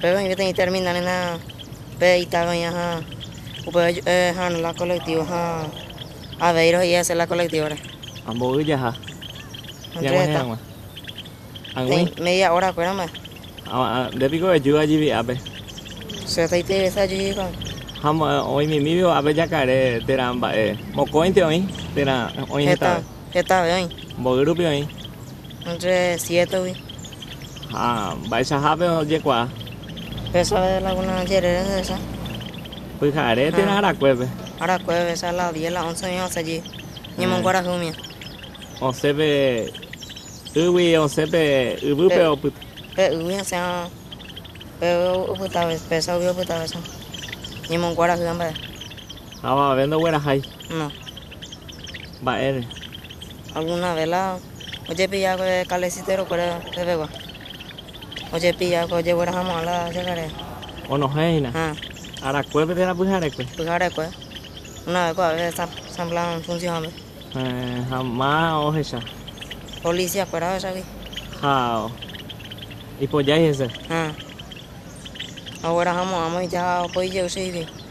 Péro oĩ peteĩ terminal renda pe Itaca oĩva ha upéva jupe ha'arõ la colectivo ha avei rohe'i asy la colectivo-re. Amboy jaha. Entre reta. Ñag̃uahẽramo. Ag̃ui. Peteĩ media hora kuéra mba'e. Ha nde piko ejúva jivi'ápe. Che taitei vece ajuju hikuái. Ha oĩmimívo ápe jakare térã mba'e. Mokõinte oĩ térã oĩ hetave. Heta. Hetave oĩ. Mboy rupi oĩ. Entre siétegui. Ha mba'eichahápe ojekuaa. Pésa de la una jerére ojehecha. Pyhare térã arakuépe. Arakuépe echa la diez la once oĩva osẽ jey. Ñemonguerahy umía. Osẽ pe ýgui osẽ pe yvýpe opyta. Pe ýgui osẽ pe opyta vez. Pésa ugui opyta vez. Ñemonguerahy amba'e. Avave ndoguerahái. No. mba'ére. Alguna ve la ojepilla pe kalesitero kuére pevegua, ojepilla pe ojeguera hamo'ã la jagare. Onohẽ hína. Arakuépe térã pyharekue. Pyharekue. Una ve ko ave sãmplan funsiónpe. Ha ma ohecha. Polisia kuéra ohechagui. Ha ipojái hese. Ha oguera hamo'ãmo ija opoi jey che ivi.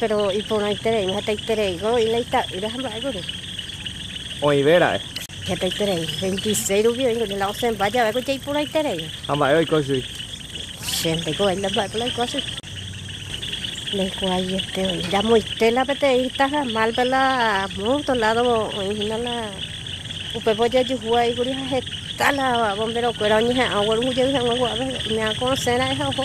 Péro iporãitereíma hetaitereígui la ita'ýra ha mba'e kuri. Oĩve ra'e. Hetaiterei. Veintiséis rupi oĩ kuri la osẽmba jave ko jaiporãiterei. Ha mba'e oiko chui. Che ndaikuaái la mba'épa la oiko chui. Ndaikuaaiete oĩ. Jamoite la peteĩ taha málpe la moto ládo oĩ hína la upépe ojejuhu aĩ kuri ha heta la bomberokuéra oñeha'ã oguerungu jey hag̃ua ko'ápe umi akõ osẽ ra'e ha oho.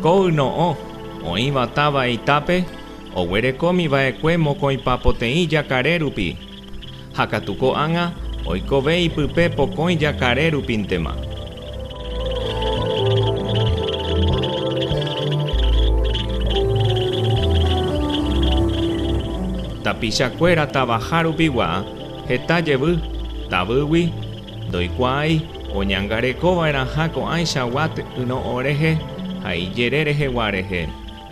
Ko yno'õ, oĩva táva itápe, oguerekómi vaekue mokõipa poteĩ jakare rupi, Ha katu ko'ág̃a oikove ipype pokõi jakare rupíntema. Tapicha kuéra tavaha rupigua heta jevy, tavýgui, ndoikuaái oñangareko vaerãha ko'ãicha Watt yno'õ rehe ha ijere rehegua rehe.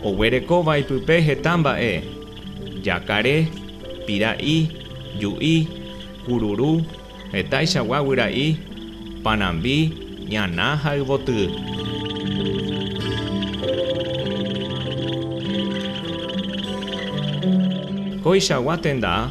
Oguerekóva ipype heta mba'e. Jakare, pira'i, ju'i, kururu, hetaichagua guyra'i, panambi, ñana ha yvotyy. Koichagua tenda